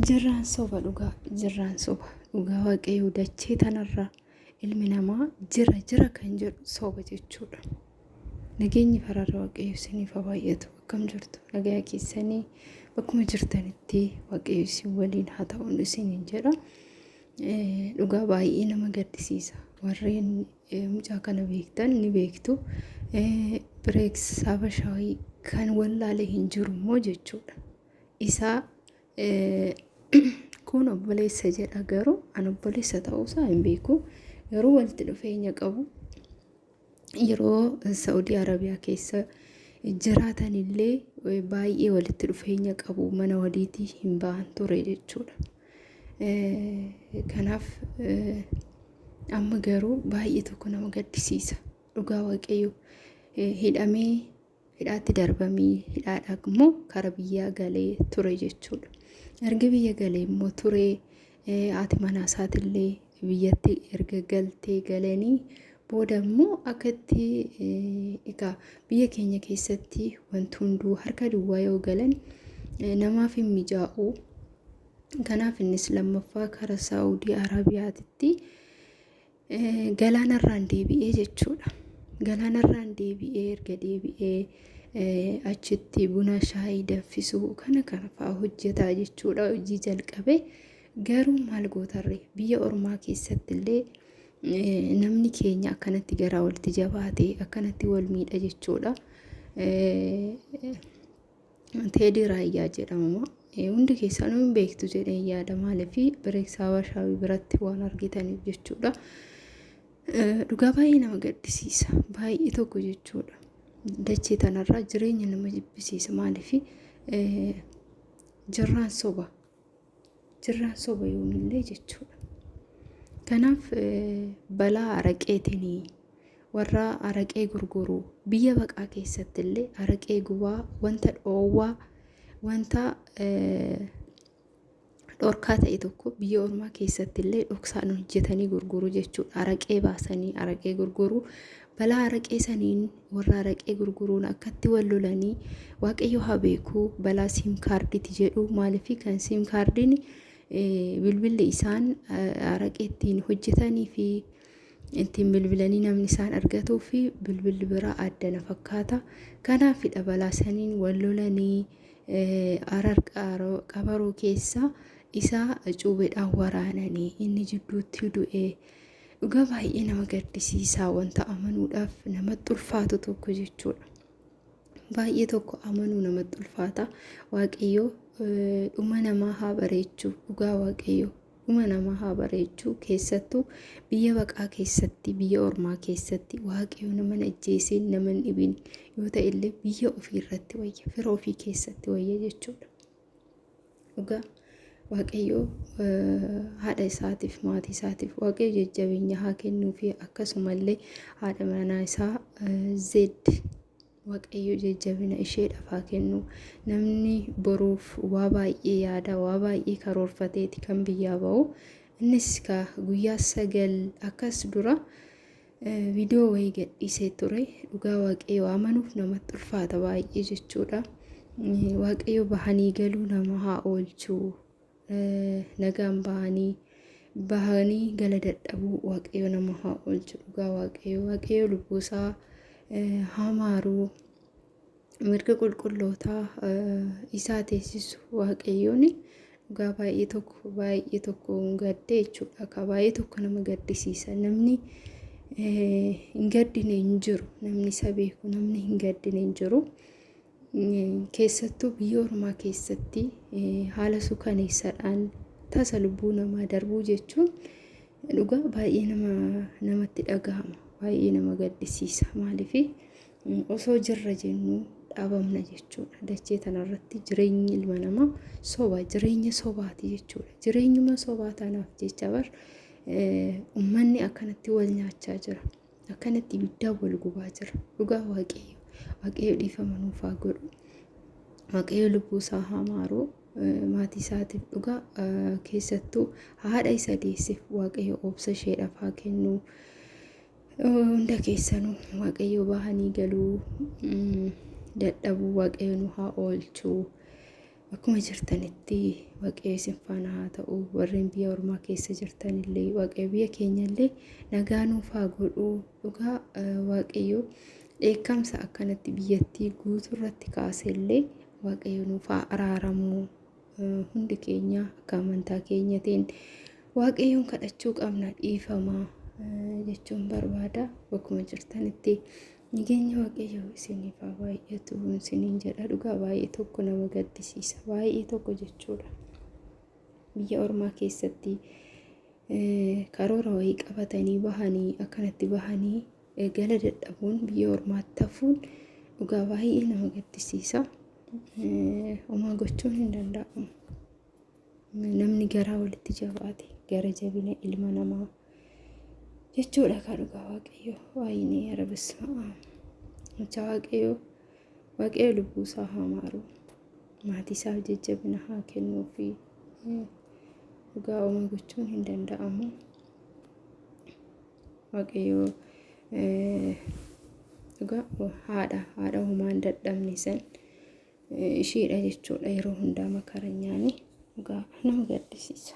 Jirraan soba dhugaa jirraan soba dhugaa waaqayyoo dachee tanarraa ilmi namaa jira jira kan jedhu soba jechuudha. Nageenyi fararra waaqayyo isiniif haa baay'atu akkam jirtu nagaya keessanii bakkuma jirtanitti waaqayyo isin waliin haa ta'uun isiniin jedha. Dhugaa baay'ee nama gaddisiisa warreen mucaa kana beektan ni beektu. Bireeks Habashaawii kan wallaalee hin jiru immoo jechuudha. isaa kun obboleessa jedha garuu an obboleessa ta'uusaa hin beeku garuu walitti dhufeenya qabu yeroo Saa'udii Arabiyaa keessa jiraatan illee baay'ee walitti dhufeenya qabu mana waliitii hin ba'an ture jechuudha. Kanaaf amma garuu baay'ee tokko nama gaddisiisa dhugaa waaqayyo hidhamee hidhaatti darbamii hidhaadhaa immoo kara biyyaa galee ture jechuudha. Erga biyya galee immoo turee haati manaa isaatillee biyyatti erga galtee galanii booda immoo akka itti egaa biyya keenya keessatti wanti hunduu harka duwwaa yoo galan namaaf hin mijaa'u. Kanaaf innis lammaffaa kara Saawudii Arabiyaatitti galaanarraan deebi'ee jechuudha. Galaanarraan deebi'ee erga deebi'ee achitti buna shaayii danfisuu kana kana fa'aa hojjetaa jechuudha hojii jalqabe garuu maal gootarre biyya ormaa keessatti illee namni keenya akkanatti garaa walitti jabaate akkanatti wal miidha jechuudha. Teedii Raayyaa jedhama. Hundi keessanuu hin beektu jedheen yaada maaliif bireeksaa Warshaawii biratti waan argitaniif jechuudha. Dhugaa baay'ee nama gaddisiisa. Baay'ee tokko jechuudha. Dachee tanarraa jireenya nama jibbisiisa maaliif jirraan soba. Jirraan soba yoomillee jechuudha. Kanaaf balaa araqeetiin warra araqee gurguru biyya baqaa keessatti illee araqee gubaa wanta dhoowwaa wanta dhorkaa ta'e tokko biyya ormaa keessatti illee dhoksaan hojjetanii gurguru jechuudha. Araqee baasanii araqee gurguru Balaa araqee saniin warra araqee gurguruun akkatti wal lolanii waaqayyo haa beeku balaa siim kaarditi jedhu maaliif kan siim kaardiin bilbilli isaan araqee ittiin hojjetanii fi ittiin bilbilanii namni isaan argatuu fi bilbilli biraa adda na fakkaata. Kanaafidha balaa saniin wal lolanii arar qabaruu keessa isaa cuubeedhaan waraananii inni jidduutti du'ee. Dhugaa baay'ee nama gaddisiisaa wanta amanuudhaaf namatti ulfaatu tokko jechuudha. Baay'ee tokko amanuu namatti ulfaata. Waaqayyoo dhuma namaa haa bareechu. Dhugaa waaqayyoo dhuma namaa haa bareechu. Keessattuu biyya baqaa keessatti, biyya ormaa keessatti waaqayyoo nama hin ajjeesee, nama hin dhibin yoo ta'e illee biyya ofii irratti wayya, fira ofii keessatti wayya jechuudha. Dhugaa Waaqayyoo haadha isaatiif maatii isaatiif Waaqayyo jajjabeenya haa kennuu fi akkasumallee haadha manaa isaa zeed Waaqayyo jajjabina isheedhaaf haa kennu. Namni boruuf waa baay'ee yaada waa baay'ee karoorfateeti kan biyyaa ba'u. Innis kaa guyyaa sagal akkas dura Viidiyoo wayii gadhiisee ture dhugaa waaqayyoo amanuuf namatti ulfaata baay'ee jechuudha. Waaqayyo bahanii galuu nama haa oolchuu nagaan bahanii bahanii gala dadhabuu waaqayyo nama haa oolchu dhugaa waaqayyo waaqayyo lubbuusaa haa maaruu. mirga qulqullootaa isaa teessisu waaqayyoon dhugaa baay'ee tokko baay'ee tokko gaddee jechuudha. Akka baay'ee tokko nama gaddisiisa. Namni hin gaddine hin jiru. Namni isa beeku namni hin gaddine hin jiru. Keessattuu biyya ormaa keessatti haala suukaneessaadhaan tasa lubbuu namaa darbuu jechuun dhugaa baay'ee nama namatti dhagahama. Baay'ee nama gaddisiisa. Maaliif? Osoo jirra jennu dhaabamna jechuudha. Dachee tanarratti jireenyi ilma namaa soba, jireenya sobaati jechuudha. Jireenyuma sobaa tanaaf jecha bar ummanni akkanatti wal nyaachaa jira. Akkanatti ibiddaa wal gubaa jira. Dhugaa waaqayyo. Waaqayyo dhiifama nuuf haa godhu. Waaqayyo lubbuu isaa haa maaru. Maatii isaatiif dhugaa keessattuu haadha isa deesseef waaqayyo obsa isheedhaaf haa kennu. Hunda keessanuu waaqayyoo bahanii galuu dadhabuu waaqayyo nu haa oolchu. Akkuma jirtanitti waaqayyo isin faana haa ta'u warreen biyya ormaa keessa jirtanillee waaqayyo biyya keenyallee nagaa nuuf haa godhu dhugaa waaqayyo dheekkamsa akkanatti biyyattii guutuu irratti kaasellee waaqayyo nuuf haa araaramu. Hundi keenya akka amantaa keenyatiin waaqayyoon kadhachuu qabna dhiifama jechuun barbaada bakkuma jirtanitti nageenya waaqayyoo isiniif haa baay'atu isiniin jedha dhugaa baay'ee tokko nama gaddisiisa baay'ee tokko jechuudha biyya ormaa keessatti karoora wayii qabatanii bahanii akkanatti bahanii Gala dadhabuun biyya ormaatti hafuun dhugaa baay'ee nama gaddisiisa. Homaa gochuun hin danda'amu. Namni garaa walitti jabaate gara jabina ilma namaa jechuudha kaa dhugaa waaqayyoo waayinee yara bisma'aa. Mucaa waaqayyoo waaqayyo lubbuu isaa haa maaru. Maatii isaaf jajjabina haa kennuu fi dhugaa homaa gochuun hin danda'amu. waaqayyoo dhugaa haadha haadha homaan dadhabne san ishiidha jechuudha yeroo hundaa makaranyaani dhugaa nama gaddisiisa.